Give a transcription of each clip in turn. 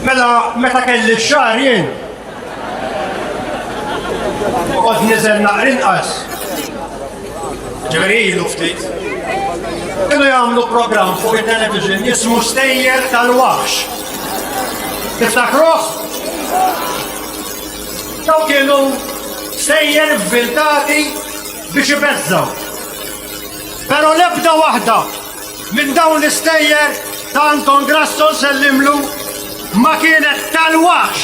Mela, meta kelli xar jien. Għod nizel naqr inqas. Ġveri ilu ftit. Kienu jagħmlu program fuq il-television jismu Stejjer tal-Wax. Tiftakruh? Dawn kienu sejjer vviltati biex ibeżżgħu. Però l-ebda waħda minn dawn l-istejjer ta' Anton Grasso nsellimlu ma kienet tal-waħx,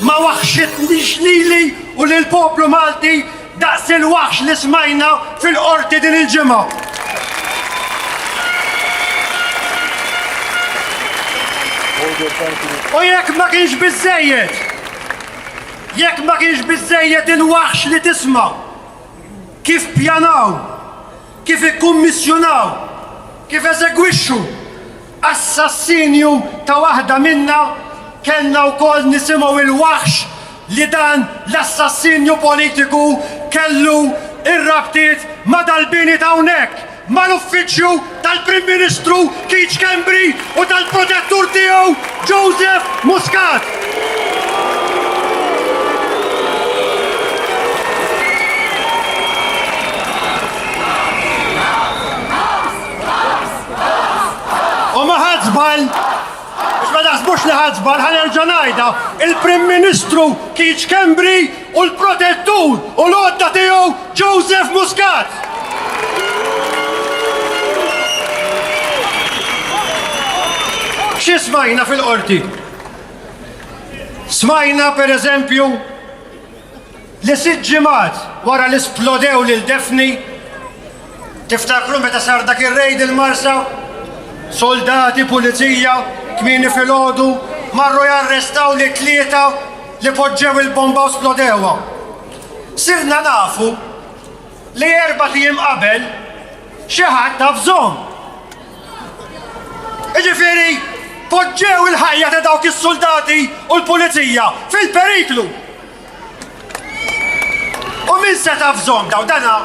ma waħxitnix lili u lill-poplu Malti Daqs il-waħx li smajna fil-Qorti din il-ġimgħa. U jekk ma kienx biżżejjed, jekk ma kienx biżżejjed il-waħx li tisma' kif pjanaw kif ikkummissjonaw, kif eżegwixxu assassinju ta' waħda minna, kellna wkoll nisimgħu l-waħx li dan l-assassinju politiku kellu r-rabtiet ma' dal-bini t'hawnhekk, mal-Uffiċċju tal-Prim Ministru Keith Schembri u tal-protettur tiegħu Joseph Muscat. U ma ħadd żball biex ma naħsbux li ħadd żball ħanerġa' ngħidha, il-Prim Ministru Keith Schembri u l-protettur u l-għodda tiegħu Joseph Muscat. Xi smajna fil-qorti? Smajna pereżempju li sitt ġimgħat wara li splodew lil Daphne Tiftakru meta sar dak ir-rejd il-Marsa? Soldati pulizija kmieni filgħodu marru jarrestaw li tlieta li poġġew il-bomba u splodewha. Sirna nafu li erba' tim qabel xi ħadd taf żomm. Iġifieri poġġew il-ħajja ta' dawk is-soldati u l-pulizija fil-periklu. U min seta' f'żomm daw dana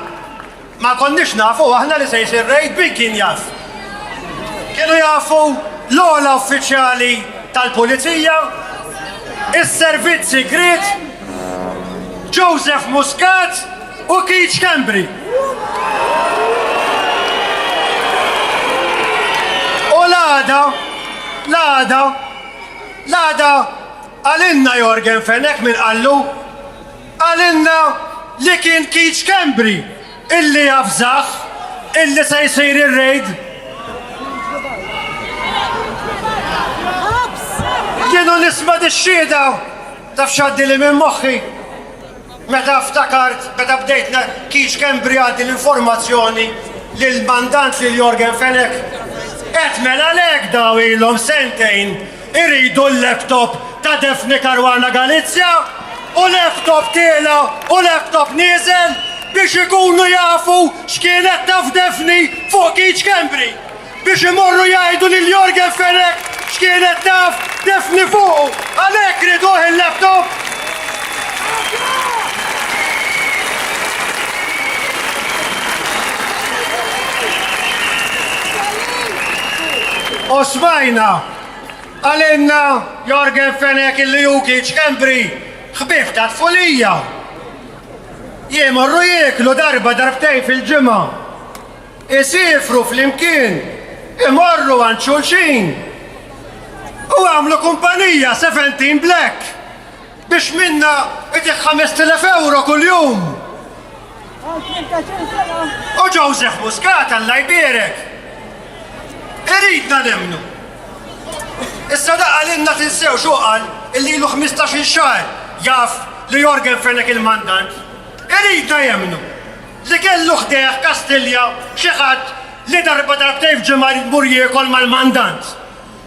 ma konniex nafu aħna li se jsir rejd min kien jaf. Kienu jafu l-ogħla uffiċjali tal-Pulizija, is-Servizz Sigriet, Joseph Muscat u Keith Schembri. U l-għada, l-għada, l-għada Qalilna Yorgen Fenech min qallu? Qalilna li kien Keith Schembri illi avżah illi se jsir ir-raid? Jien u nisma' dix-xhieda, taf x'għaddili minn moħħi? Meta ftakart, meta bdejt na, kienx kemm brijat din l-informazzjoni lill-mandant lil Yorgen Fenech. Qed mela le hekk daw ilhom sentejn iridu l-laptop ta' Daphne Caruana Galizia u laptop tiela u laptop nieżel biex ikunu jafu x'kienet taf Daphne fuq Keith Schembri. biex imorru jgħidu lil Jorgen Fenech x'kienet taf tifni fuqu għalhekk riduh il-laptop. U smajna għalinna Jorgen Fenech illi Jukic Embri ħbib ta' tfulija. Jemorru jieklu darba darbtejn fil-ġimgħa Isiefru flimkien, imorru għand xulxin u għamlu kumpanija Seventeen Black biex minnha itih 5,000 ewro kuljum. U Joseph Muscat Alla jbierek. Iridna nemmnu. Issa daqa lilna tinsew xuqal illi ilu 15-il xahar jaf li Jorgen Fenech il-mandant. Iridna jemmnu. Li kellu ħdejh Kastilja xi ħadd li darba darbtejn f'ġimgħa jrid imur jiekol mal-mandant.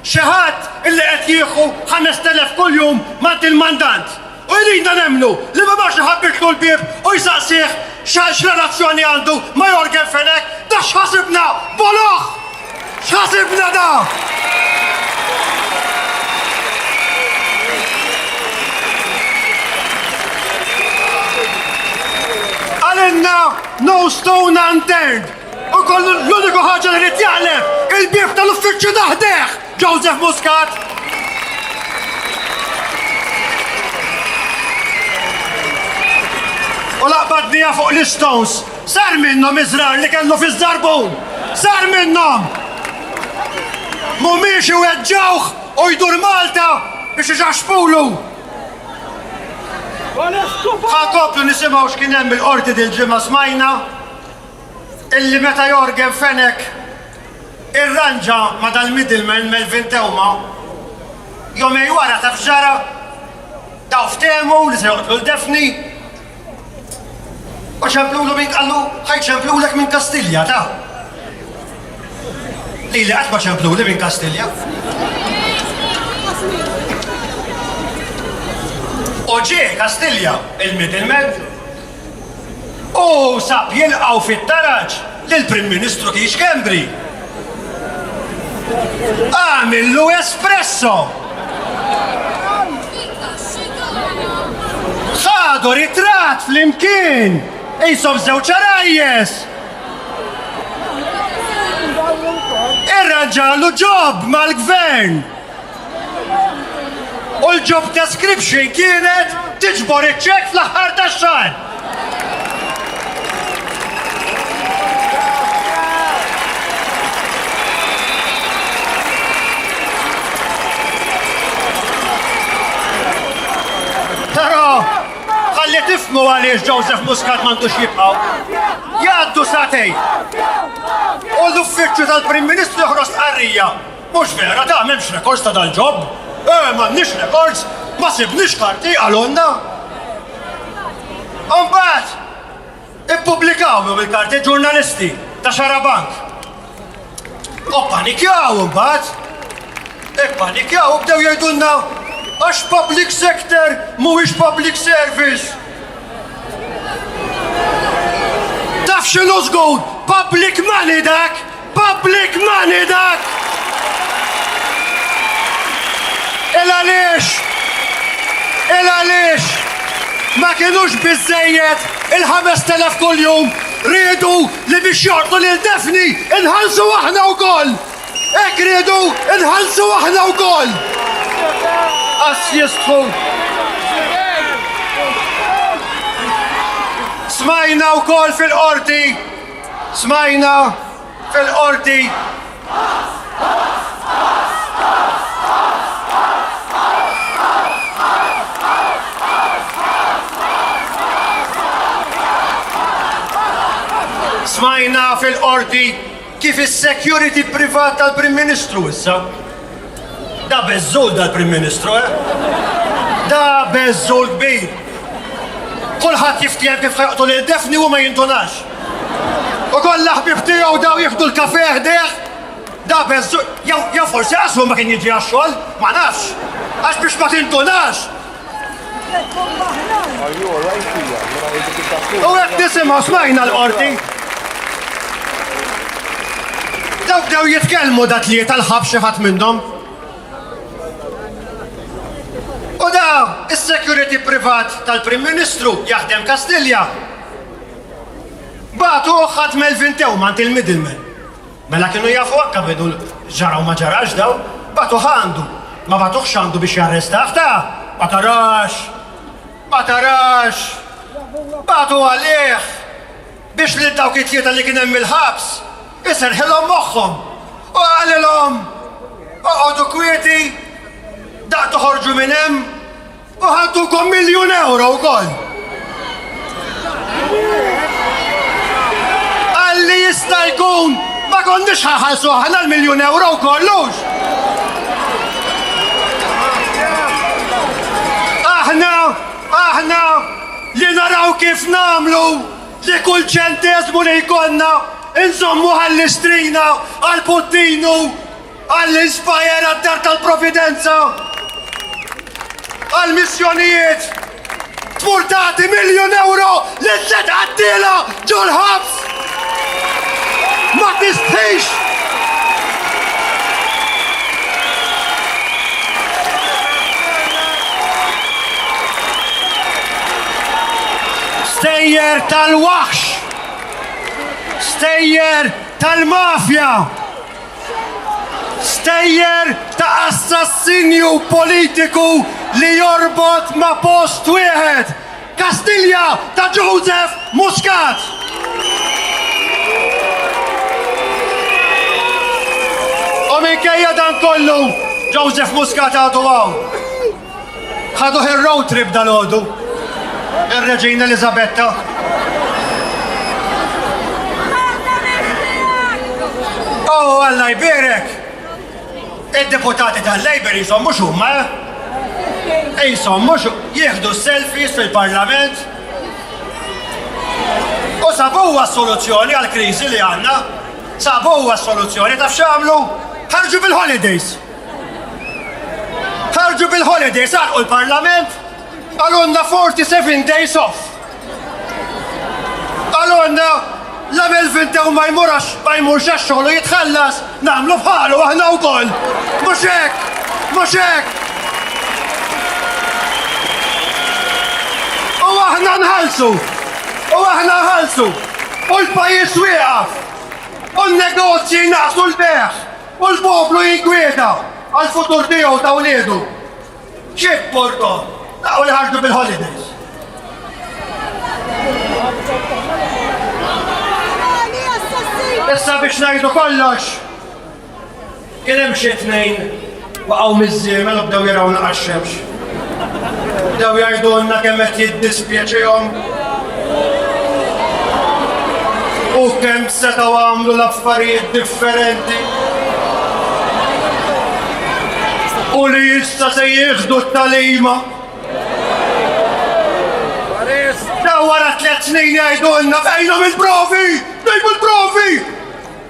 Xi ħadd li qed jieħu ħamest elef kuljum m'għand il-mandant. U jridna nemmnu li ma marx iħabbitlu l-bieb u jsaqsih x'relazzjoni għandu ma' Yorgen Fenech? Da x'ħasibna? Boloh! X'ħasibna da? Għalinna no stone unturned u kollu l-uniku ħaġa li rrid jaqleb il-bib tal-uffiċċju taħdeħ Joseph Muscat. u laqbadnija fuq l-Stones Sar minnhom iż-żrar li kellu fiż-żarbun! Sar minnhom! Mhumiex iweġġgħuh u jdur Malta biex iġaxxfulu! Ħa nkomplu nisimgħu x'kien hemm il-Qorti dil-ġimgħa smajna illi meta Yorgen Fenech irranġa ma' dal-middleman Melvin Theuma, jumej wara taf x'ġara? Dawn ftehmu li se joqtlu 'l Daphne! U ċemplulu minn qallu ħaj ċemplulek minn Kastilja, ta? Li li għatma ċempluli minn Kastilja. U ġie Kastilja il-middleman u sab jilqaw fit-taraġ Il-Prim Ministru Keith Schembri għamillu espresso. Ħadu ritrat fl-imkien, jisob żewġ rajjes. Irranġalu ġob mal-gvern. U l-job description kienet tiġbor iċ-ċekk fl-aħħar tax-xahar. Però ħalli tifmu għaliex Joseph Muscat m'għandux jibqgħu. Jgħaddu satej. U l-uffiċċju tal-Prim Ministru joħros qarrija. Mhux vera da, m'hemmx rekords ta' dal-ġob. Eh, m'għandniex rekords, ma sibniex karti, qalulna. Imbagħad ippubblikawhom il-karti ġurnalisti ta' Xarabank. U panikjaw imbagħad. Ippanikjaw u bdew jgħidulna għax public sector mhuwiex public service. Taf x'inhu żgur public money dak? Public money dak! Il għaliex? Il għaliex? Ma kienux biżżejjed il-5000 kuljum riedu li biex joqtlu lil Daphne inħallsu aħna wkoll! Hekk riedu inħallsu aħna wkoll! Qass jistħu! Smajna wkoll fil-qorti Smajna fil-Qorti Smajna fil-Qorti kif is-security privat tal-Prim Ministru issa Da beżżul dal-Prim Ministru, eh? Da beżżul kbir! Kulħadd jiftiehem kif ħajqtu lil Defni u ma jindunax. U kollha ħbib tiegħu daw jieħdu l-kafe ħdejh. Da beżżul, jew forsi għaslu ma kien jiġi għax-xogħol, ma nafx. Għax biex ma tindunax, U hekk nisimgħu smajna l-qorti. Daw bdew jitkellmu da tlieta l-ħab xi ħadd minnhom. U da is-security privat tal-Prim Ministru jaħdem Kastilja. Batu ħadd Melvin Tewman il-middleman. Mela kienu jafu għakka bidu ġaraw ma ġarax daw, batu għandu, ma batu għandu biex jarrestaħ ta' ma tarax, ma tarax, batu għalih biex li dawk it-tlieta li kien hemm il-ħabs iserħilhom moħħhom u qalilhom oqgħodu kwieti daq toħorġu minn hemm U ħantukom miljun euro wkoll. Għalli jista' jkun ma konniex ħaħalsu aħna l-miljun euro kollux. Aħna, aħna li naraw kif namlu li kull ċentesmu li jkollna inżommu għall-istrina għal-puttinu Għall-Inspire għad-Dar tal-Providenza għall-missjonijiet tmur tagħti miljun euro li tliet qattiela ġol-ħabs. Ma tistħix! Stejjer tal-waħx! Stejjer tal-mafja! Stejjer ta' assassinju politiku li jorbot ma' post wieħed! Kastilja ta' Joseph Muscat! U minkejja dan kollu, Joseph Muscat għadu hawn. Ħaduh ir-road trip dalgħodu. Ir-Reġina Elizabetta. Oh, Alla jbirek! Id-deputati tal-Labor jisom mux huma, eh? Jisom mux jieħdu selfies fil-parlament. U sabuwa soluzzjoni għal-krizi li għanna. Sabuwa soluzzjoni ta' xamlu ħarġu fil-holidays. Ħarġu bil-holidays għalqu l-Parlament, għalonna 47 days off. Għalonna l-għamil vinta u ma jmurax ma jmurx xogħol u jitħallas nagħmlu bħalu aħna wkoll. Mhux hekk, mhux hekk. U aħna nħallsu, u aħna nħallsu, u l-pajjiż wieqaf, u n-negozji naqsu l-beħ, U l-poplu jinkwieta għall-futur tiegħu u ta' wliedu. Ġieb Porto, taqgħu li ħarġu bil-holidays. Issa biex ngħidu kollox, kien hemm xi tnejn waqgħu miżżiemel u bdew jaraw naqax-xemx. Bdew jgħidulna kemm qed jiddispjaċihom u kemm setgħu għamlu l-affarijiet differenti. U li issa se jieħdu t-talima. Daw wara tliet snin jgħidulna fejnhom il-provi! Fejn il-provi!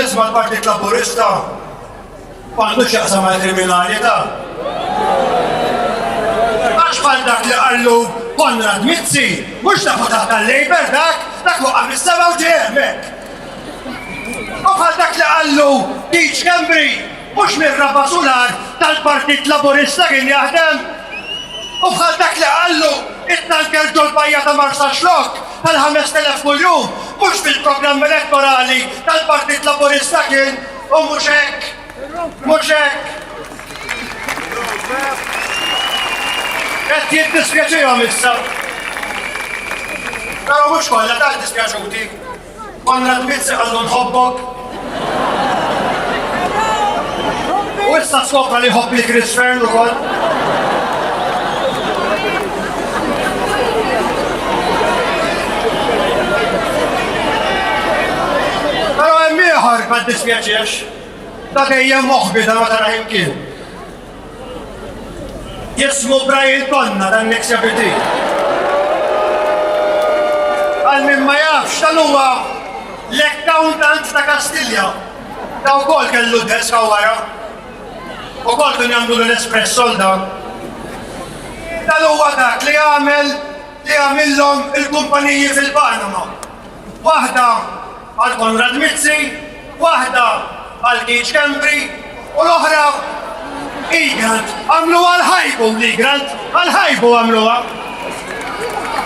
nisma l-Partit Laburista għandu xaqsa ma' kriminalità. Għax bħal dak li għallu Konrad Mizzi, mux tafu taħt tal-Labor dak, dak waqqa mis-sema u ġemmek. U bħal dak li qallu Deech Kembri, mhux mir-raba' sular tal-Partit Laburista kien jaħdem. U bħal dak li qallu it-tanker ġol-bajja ta' Marsa Xlok tal-5000 kuljum, mhux fil-programm elettorali tal-Partit Laburista kien, u mhux hekk. Mhux hekk. Qed jiddispjaċihom issa. Però mhux kollha tant dispjaċuti. Konrad Mizzi għandu nħobbok. U issa skopra li ħobb li Chris Fern u kol. Pero hemm ieħor ma dispjaċiex. Da dejjem moħbi da ma tara imkien. Jismu Brian Tonna dan l-eks jabiti. Għal min ma jafx dan huwa l-accountant ta' Kastilja. Ta' wkoll kellu desk wara. U kol kien jagħmlu l-espress solda. Dan huwa dak li għamel li għamillhom il-kumpaniji fil-Panama. waħda għal Konrad Mizzi, waħda għal Keith Schembri u l-oħra Igrant. Għamlu għal ħajbu l-Igrant, għal ħajbu għamluha.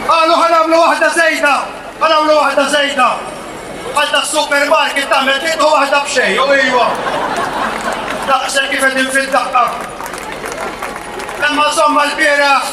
Għalu għal għamlu waħda zejda, għal għamlu waħda zejda. Għal ta' supermarket ta' metit u waħda bxej, u ijwa. Daqsel kif edin fil-daqqa. Emma somma l-biraħ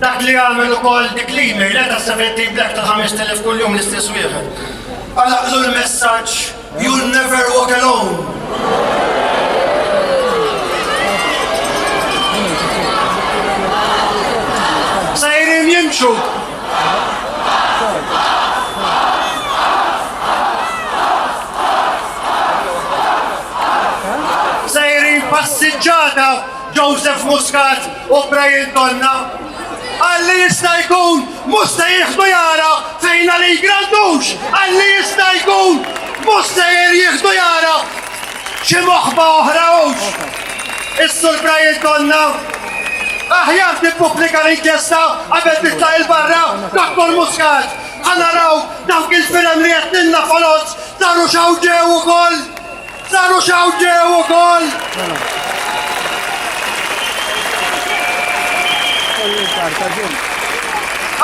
Dak li għamel ukoll dik l-email qed 17 black ta' 5000 kuljum l-istess wieħed. Għalaqlu l-messaġġ You'll never walk alone. Sejrin jimxu. Sejrin passiġġata. Joseph Muscat u Brian Donna għalli jista' jkun musta jieħdu jara fejn għalli jgrandux, għalli jista' jkun musta jieħdu jara xi moħba oħra hux. Is-sur Brian Donna aħjar tippubblika l-inkjesta qabel titla' il-barra Dr. Muscat. Għanaraw dawk il-firem li qed ninna foloz daru xawġew ukoll. Saru xaw ġew ukoll!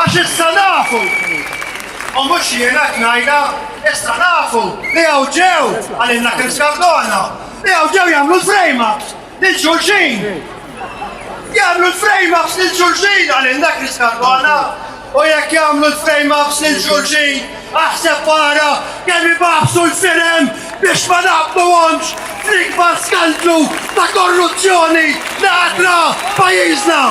Għax issa nafu, u mhux jiena tnajna, issa nafu li hawn ġew għalilna kif skardona, li hawn ġew jagħmlu l-frejma. Lil xulxin! Jagħmlu l-frame ups lil xulxin għalin dak li skarbana! U jekk jagħmlu l-frame ups lil xulxin, aħseb wara kemm ibaħsu l-firem biex ma naqbluhomx fl-ikbar skandlu ta' korruzzjoni li għadra pajjiżna!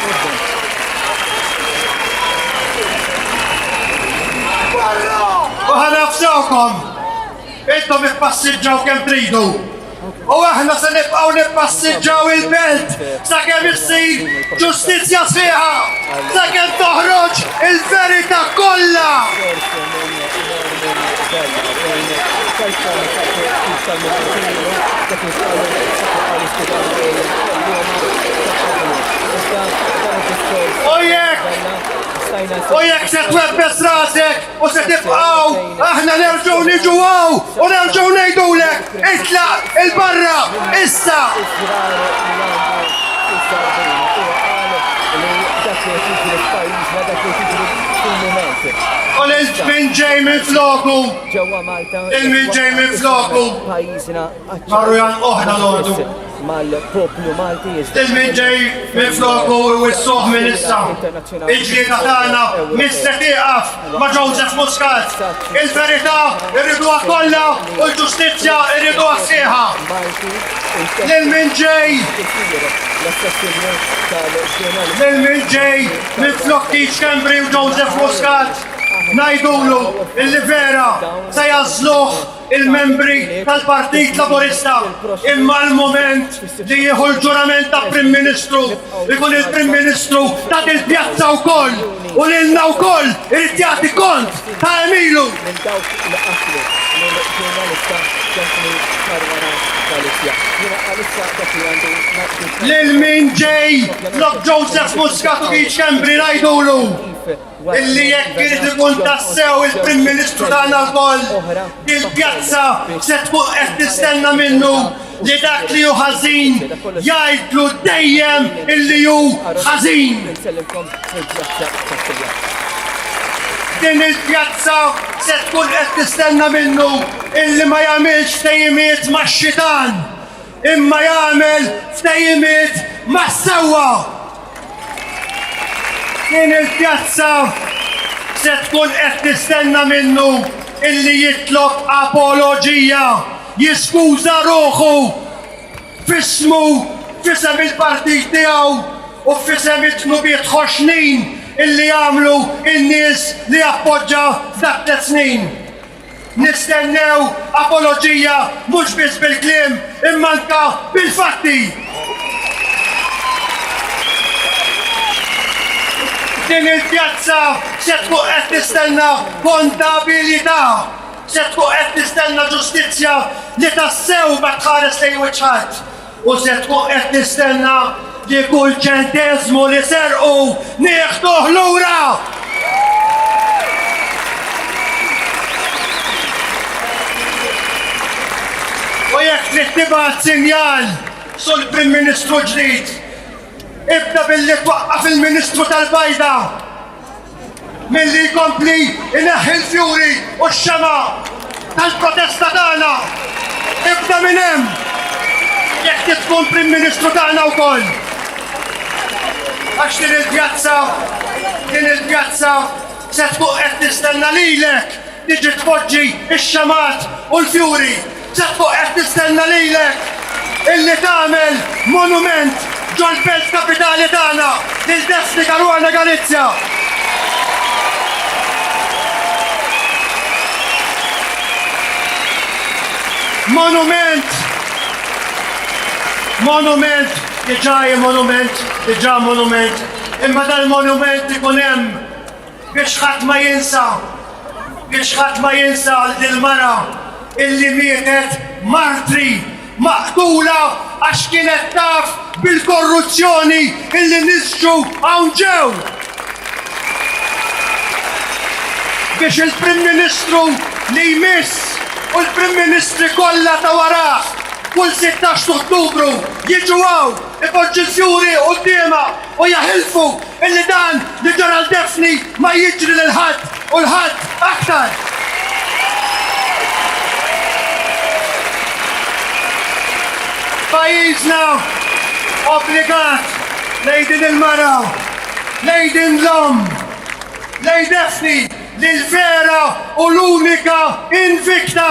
Thank you. U ħanafżawkom, intom ippassiġġaw kemm tridu. U aħna se nibqgħu nippassiġġaw il-belt sakemm issir ġustizzja sħiħa, sakemm toħroġ il-verità kollha. U jekk se twebbes rasek u se tibqaw, aħna nerġgħu niġu għaw u nerġgħu ngħidulek itlaq il-barra issa. U l-ġbin ġej minn floku, il-min ġej minn floku. Marrujan oħra l-ordu. Mal-poplu Malti Il-min ġej minn floku wissuħ minn issa. Il-ġlieda tagħna mista tieqaf ma' Joseph Muscat. Il-verità irriduha kollha u l-ġustizzja irriduha sieħa. Lil min ġej Lil min ġej minn flok Keith Cambry u Joseph Muscat. Najdulu il-livera se jazluħ il-membri tal-Partit Laburista imma l-mument li jieħu l-ġurament ta' Prim Ministru ikun il-Prim Ministru ta' dil-pjazza wkoll u lilna wkoll irid jagħti kont ta' emilu. Minn dawk li qatlu minn ġurnalista ġasmi karwana tal-Isja. Jiena għalissa dak li għandu Lil min ġej, Lok Joseph Muscat u Kembri ngħidulu. illi jekk irid ikun tassew il-Prim Ministru tagħna lkoll, il-pjazza se tkun qed tistenna minnu li dak li hu ħażin jgħidlu dejjem illi hu ħażin. Din il-pjazza se tkun qed tistenna minnu illi ma jagħmilx tejjimiet max-xitan imma jagħmel ftehimiet mas-sewwa. Din il-pjazza se tkun qed tistenna minnu illi jitlob apoloġija, jiskuża ruħu f'ismu f'isem il-partit tiegħu u f'isem it-tnubiet ħoxnin illi għamlu n-nies li appoġġa f'dak tliet snin. Nistennew apoloġija mhux biss bil-kliem imma anke bil-fatti. Din il-pjazza se tkun qed tistenna kondabilità, se tkun qed tistenna ġustizzja li tassew ma tħares lejn wiċċ ħadd. U se tkun qed tistenna li kull ċenteżmu li serqu nieħduh lura! U jekk trid tibgħat sinjal sul Prim Ministru ġdid, ibda billi twaqqaf il-Ministru tal-Bajda Milli jkompli jneħħi l-fjuri u x-xemgħa tal-protesta tagħna. Ibda minn hemm! Jekk trid tkun Prim Ministru tagħna wkoll. Għax din il-pjazza, din il-pjazza se tkun qed tistenna lilek tiġi tpoġġi x-xemgħat u l-fjuri Ċatt fuq qed nistenna lilek illi tagħmel monument ġol-belt kapitali tagħna, lil Destiny Caruana Galizia. Monument! Monument! Iġaje monument, iġa monument, imma dal-monument ikun hemm Biex ħadd ma jinsa, biex ħadd ma jinsa għal dil-mara illi mietet martri, maqtula għax kienet taf bil-korruzzjoni illi nisġu hawn ġew. Biex il-Prim Ministru li jmiss u l-Prim Ministri kollha ta' warah kull 16 Ottubru jiġu hawn ipoġġu l-fjuri quddiemha u jeħilfu illi dan li ġara 'l Daphne ma jiġri lil ħadd u 'l ħadd aktar. Pajjiżna obbligat lejn din il-mara, lejn din l-omm, lejn Daphne li l-vera u l-unika invicta